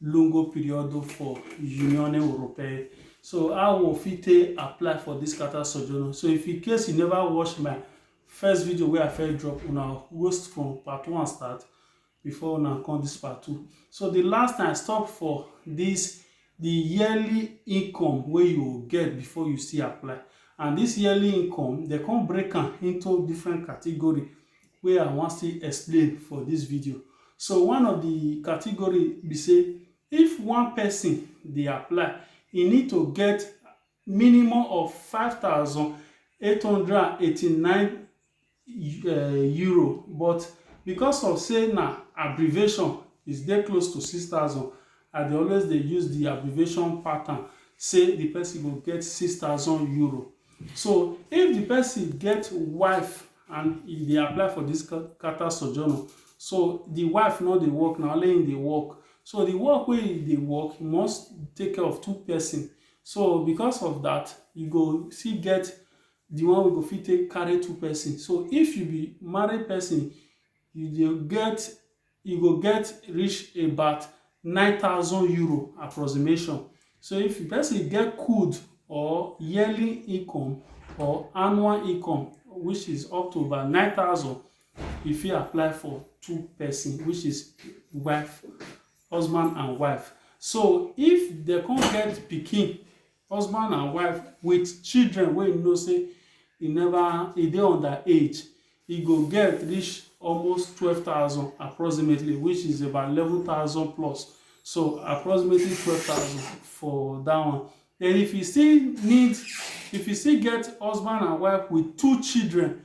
lungo periodo for Unione Europea. So how we fit take apply for this carta soggiorno. So if in case you never watch my first video wey I first drop una host from part one start before una come this part two. So the last time I stop for this the yearly income wey you go get before you still apply and this yearly income they come break am into different category wey I wan still explain for this video. So one of the category be say if one person dey apply, e need to get minimum of five thousand eight hundred and eighty-nine eh, euro but because of say na abbreviation is dey close to six thousand I dey always dey use the abbreviation pattern say the person go get six thousand euro. So if the person get wife and e dey apply for this Qatar sojourner so the wife no dey work na only him dey work so the work wey he dey work he must take care of two person so because of that you go still get the one wey go fit take carry two person so if you be married person you dey get e go get reach about nine thousand euro approximation. So if the person get could or yearly income or annual income which is up to about nine thousand, e fit apply for two person which is wife, husband and wife. So if they come get pikin Husband and wife with children wey you know say e never e dey under age, e go get reach almost twelve thousand approximately which is about eleven thousand plus so approximately twelve thousand for that one. Then if you still need if you still get husband and wife with two children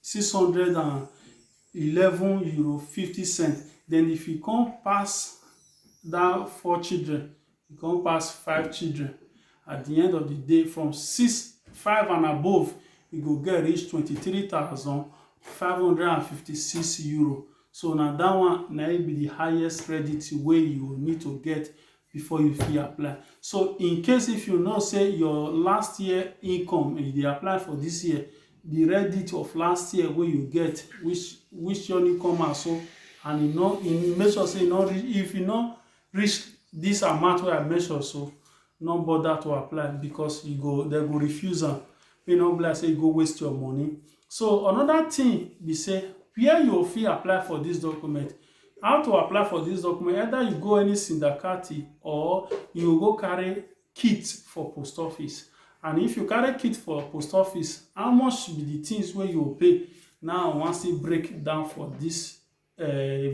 six hundred and eleven euro fifty cent then if you come pass down four children you come pass five children at the end of the day from six five and above you go get reach twenty three thousand five hundred and fifty six euro so na that one na it be the highest credit wey you need to get before you fit apply so in case if you know say your last year income you dey apply for this year the reddit of last year wey you get which which your new come out so and you know you make sure say you no reach if you no reach this amount wey i mention so no bother to apply because you go they go refuse am you no be like say you go waste your money so another thing be say where you fit apply for this document How to apply for dis document, either you go any sindakati or you go carry kit for post office and if you carry kit for post office, how much be di tins wey you pay na I wan still break down for dis um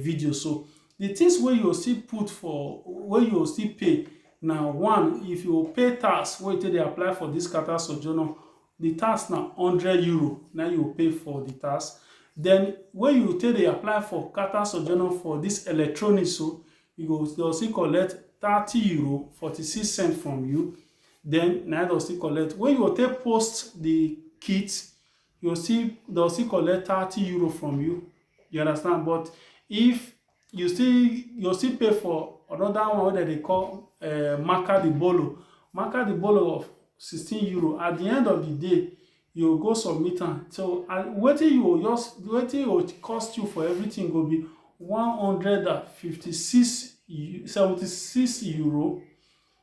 video so. Di tins wey you still put for wey you still pay na one, if you pay tax wey you take dey apply for dis carta sojourner the tax na hundred euro na you go pay for the tax then wey you take dey apply for carter sojourner for this electronic so you go they'll still collect thirty euro forty six cent from you then na they'll still collect wey you go take post the kit you go still they'll still collect thirty euro from you you understand but if you still you still pay for another one wey dem dey call uh, eh, marca di bolo marca di bolo of 16 euro at the end of the day you go submit am so wetin you just wetin you go cost you for everything go be 156 76 euro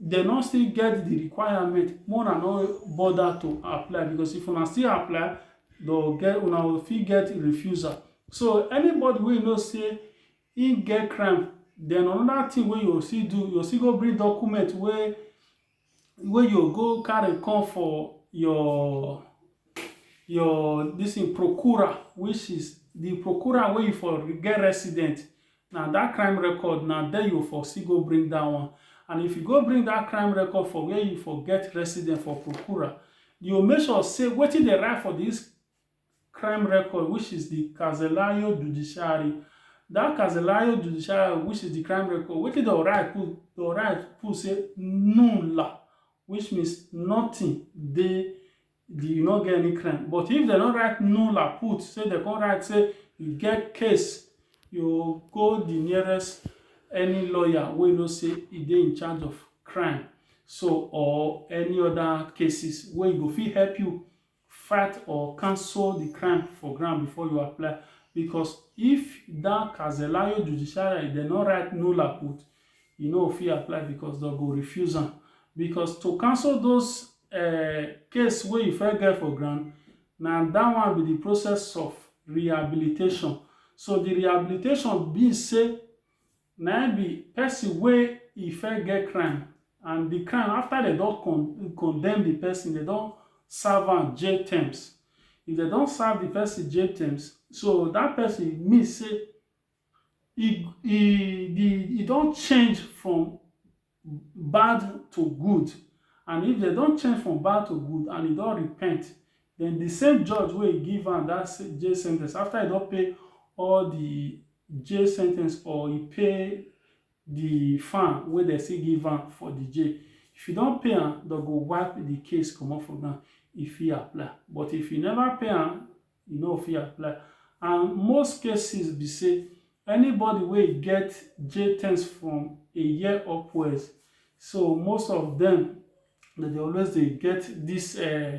dem no still get the requirement make una no bother to apply because if una still apply they'll get una will fit get refusal so anybody wey know say he get crime then another thing wey you still do you still go bring document wey wey you go carry come for your your this in procura which is the procura wey you for get resident Na that crime record na there you for still go bring that one and if you go bring that crime record for where you for get resident for Prokura, you go make sure say wetin dey write for this crime record which is the Kazelayo Judiciary that Kazelayo Judiciary which is the crime record wetin dey write put dey write put say nulla which means nothing dey you no get any crime but if dem no write nulla put say dem come write say you get case you go the nearest any lawyer wey know say e dey in charge of crime so or any other cases wey go fit help you fight or cancel the crime for ground before you apply because if that Kazelayo judiciary dem no write nulla put e no fit apply because dem go refuse am because to cancel those um case wey you first get for ground na that one be the process of rehabilitation. So the rehabilitation be say na im be person wey e first get crime and the crime after dem don con condemn the person, dem don serve am jail terms. If dem don serve the person jail terms, so that person mean say e e the e don change from bad to good and if dem don change from bad to good and e don repent then the same judge wey e give am that jail sentence after e don pay all the jail sentence or e pay the fine wey dem still give am for the jail if e don pay am dem go wipe the case comot for ground e fit apply but if e never pay am e no fit apply and most cases be say anybody wey get JTENS from a year upwards so most of them dem dey always dey get this uh,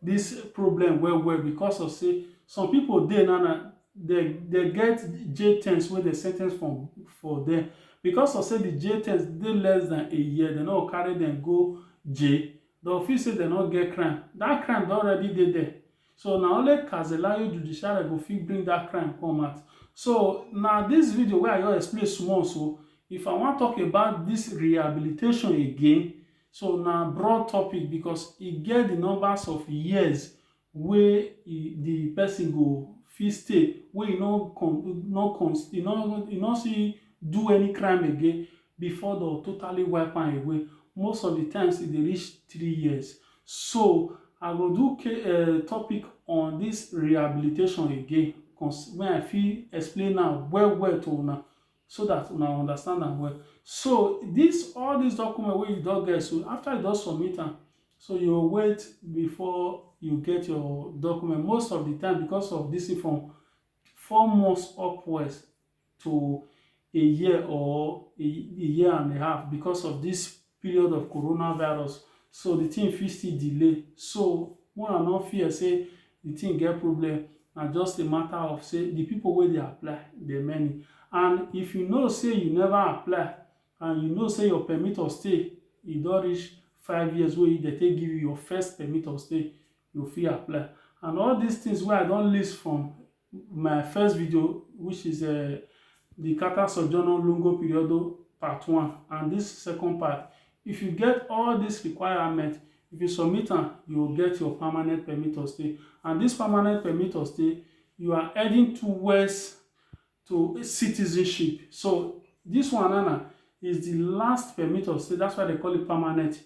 this problem well well because of say some people dey now na they they get JTENS wey dey sentence from for them because of say the JTENS dey less than a year they no carry them go J Dem feel say dem no get crime. That crime don already dey there. So na only Kazelayo judiciary go fit bring that crime come out. So na this video wey I just explain small so. If I wan talk about this rehabilitation again, so na broad topic because e get the numbers of years wey e di pesin go fit stay wey e no con no con e no e no still do any crime again before dey go totally wipe am away. Most of di times e dey reach three years. So, I go do ca um topic on dis rehabilitation again cos me I fit explain am well well to una. so that una understand am well so this all these document wey you don get so after you don submit am so you go wait before you get your document most of the time because of this form four months upwards to a year or a, a year and a half because of this period of coronavirus so the thing fit still delay so make una no fear say the thing get problem na just a matter of say the people wey dey apply dey many and if you know say you never apply and you know say your permit of stay e don reach five years wey dey take give you your first permit of stay you fit apply and all these things wey I don list from my first video which is uh, the Kata Sojourno Lungo Periodo part one and this second part if you get all these requirements if you submit am you will get your permanent permit to stay and this permanent permit to stay you are heading towards to citizenship so this one Anna, is the last permit of stay that's why they call it permanent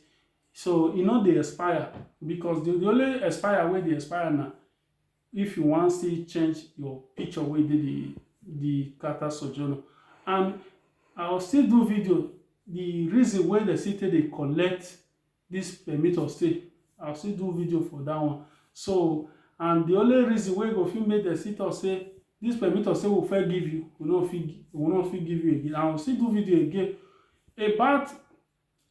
So e no dey expire because the only expire wey dey expire na if you wan still change your picture wey dey the the character sojourner and i will still do video the reason wey dem still take dey collect this permit of stay i will still do video for that one so and the only reason wey go fit make dem still talk say this permit of stay we fit give you we no fit we no fit give you again i will still do video again about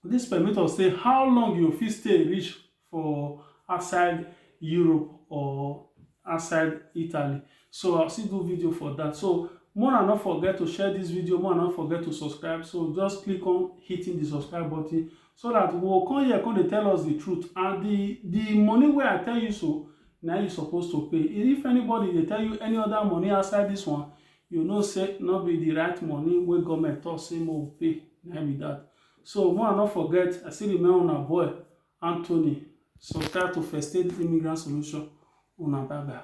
Dis permit us say how long you go fit stay reach for outside Europe or outside Italy. So I still do video for that. So more una not forget to share this video, more una not forget to subscribe. So just click on hitting the subscribe button so that we will come here, come they tell us the truth. And the, the money where I tell you so, now you supposed to pay. If anybody they tell you any other money outside this one, you know say no be the right money wey government talk say mo pay na be that so more not forget i still remain on a boy anthony subscribe to first aid immigrant solution on a bye bye